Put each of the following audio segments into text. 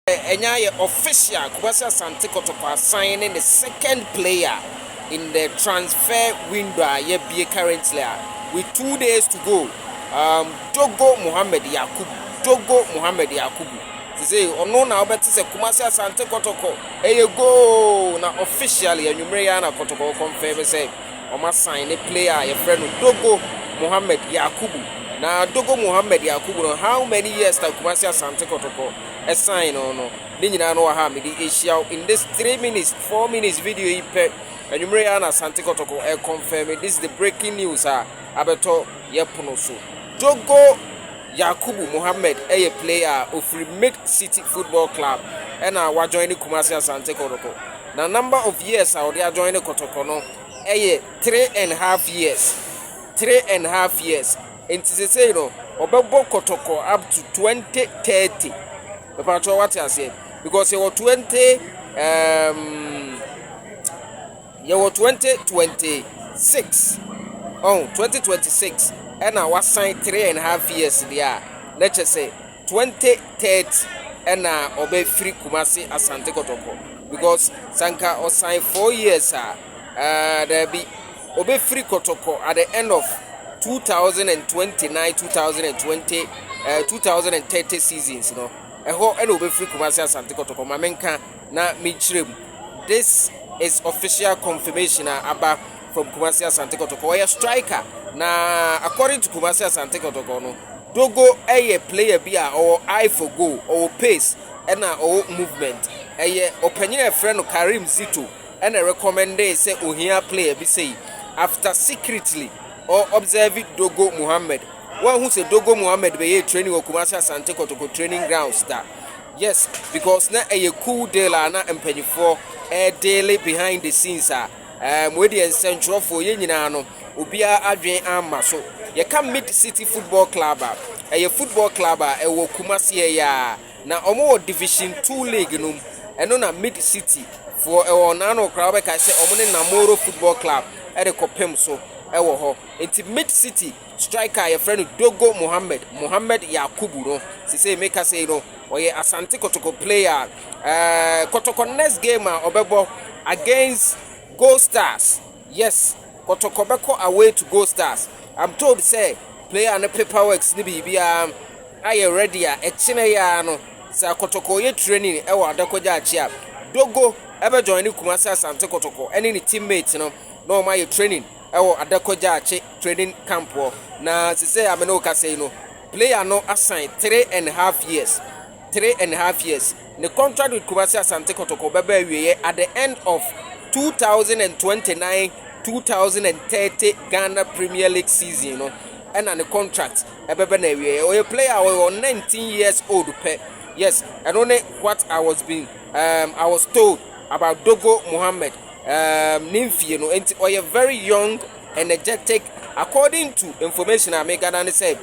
Ɛnyɛ ayɛ official, Kwabasi Asante Kotoko asan ne ne second player in the transfer window a yɛabue currently a with two days to go, um, Dogo Mohammed Yakubu, Dogo Mohammed Yakubu. Sese ɔno na wobɛte sɛ Kumasi Asante Kotoko ɛyɛ goal na officially anwummere yɛ na Kotoko confirm sɛ Wɔasan ne player a yɛfrɛ no Dogo Mohammed Yakubu. Na Dogo Mohammed Yakubu no, how many years na Kumasi Asante Kotoko sign no no, ne nyinaa no wɔ ha a mede ahyia wo in this three minutes, four minutes video yi pɛ. Anwummere yi na Asante Kotoko ɛ confirm it. This is the breaking news a abɛtɔ yɛ pono so. Dogo Yakubu Mohammed yɛ player a ofiri Mid City Football Club ɛna wajoin ne Kumasi Asante Kotoko. Na number of years a ɔde adjoin ne kɔtɔkɔ no ɛyɛ three and half years three and half years nti sesei no ɔbɛbɔ kɔtɔkɔ up to twenty thirty mepatwɛ wate aseɛ because yɛwɔ twenty um, yɛwɔ twenty twenty six ɔn twenty twenty six ɛna wasan three and half years deɛ a na kyɛ sɛ. twenty thirty ɛna ɔbɛ firi Kumasi Asante Kɔtɔkɔ because sanka ɔsan four years a ɛɛ daabi ɔbɛ firi Kɔtɔkɔ at the end of two thousand and twenty nine two thousand and twenty ɛɛ two thousand and thirty seasons no ɛhɔ ɛna ɔbɛ firi Kumasi Asante Kɔtɔkɔ maame nka na mi nkyerɛ mu this is official confirmation a aba. from Kumasi Asante Kotoko ɔyɛ striker na according to Kumasi Asante Kotoko no Dogo ɛyɛ player bi a ɔwɔ eye for goal ɔwɔ pace ɛna ɔwɔ movement ɛyɛ ɔpanyin a ɛfrɛ no Karim Zito ɛna recommended sɛ ohia player bi sɛ yi after secretly or observe Dogo Muhammad wɔahu sɛ Dogo Muhammad bɛyɛ training wɔ Kumasi Asante Kotoko training grounds da yes because na ɛyɛ cool deal a na mpanyinfoɔ ɛɛdeele behind the scenes a Ɛɛ, mo deɛ nsɛntwerɛfoɔ, yɛn nyinaa no, obiara adwene amma so. Yɛka Mid City Football Club a, ɛyɛ football club a ɛwɔ Kumasi ha yi ara, na wɔwɔ Division Two League no mu. Ɛno na Mid City foɔ wɔ wɔn ano koraa, wobɛkae sɛ wɔne Namoro Football Club rekɔpem so wɔ hɔ. Enti Mid City Striker a yɛfrɛ no Dogo Mohammed, Mohammed Yakubu no, sesei meka sei no, ɔyɛ Asante Kotoko player. Uh, Kotoko next game a ɔbɛbɔ against Gold Stars. Yes, Kotoko bɛkɔ away to Gold Stars. I'm told sɛ player no paperworks ne biribiara ayɛ ready a ɛkyena yi ara no sɛ Kotoko yɛ training ɛwɔ Adakɔgya akyi a Dogo ɛbɛjoin ne Kumasi Asante Kotoko ɛne ne teammate no na wɔn ayɛ training. wɔ Adako Gyakye training camp hɔ na sesei a me ne wo kasa yi no player no asan three and half years three and half years ne contract with Kumasi Asante Kotoko bɛba awieɛ at the end of 2029 2030 Ghana Premier League season no ɛna ne contract ɛbɛbɛ na awieɛ ɔyɛ player a ɔyɛ 19 years old pɛ yes ɛno ne what I was being um, I was told about Dogo Mohammed um, ne mfie no, nti ɔyɛ very young, energetic, according to information a me gana ne sɛ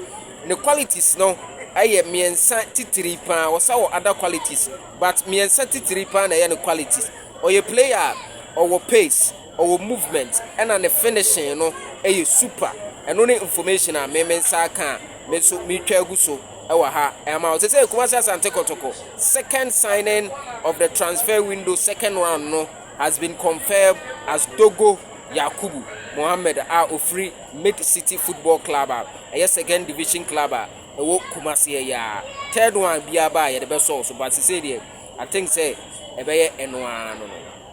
ne qualities no ɛyɛ mmiɛnsa titiri paa, ɔsa wɔ other qualities but mmiɛnsa titiri paa na ɛyɛ ne qualities. Ɔyɛ player a ɔwɔ pace, ɔwɔ movement, ɛna ne finishing no ɛyɛ super. Ɛno ne information a me me nsa aka a me nso metwa agu so ɛwɔ ha ɛma ɔsɛ sɛ Kumasi Asante Kɔtɔkɔ second signing of the transfer window second round no has been confirmed as Dogo Yakubu Mohammed a ofiri Mid City Football Club a ɛyɛ second division club a ɛwɔ Kumasi ɛyɛ a third one biara ba a yɛde bɛsɔw so but sisei deɛ I think sɛ ɛbɛyɛ ɛno ara no no.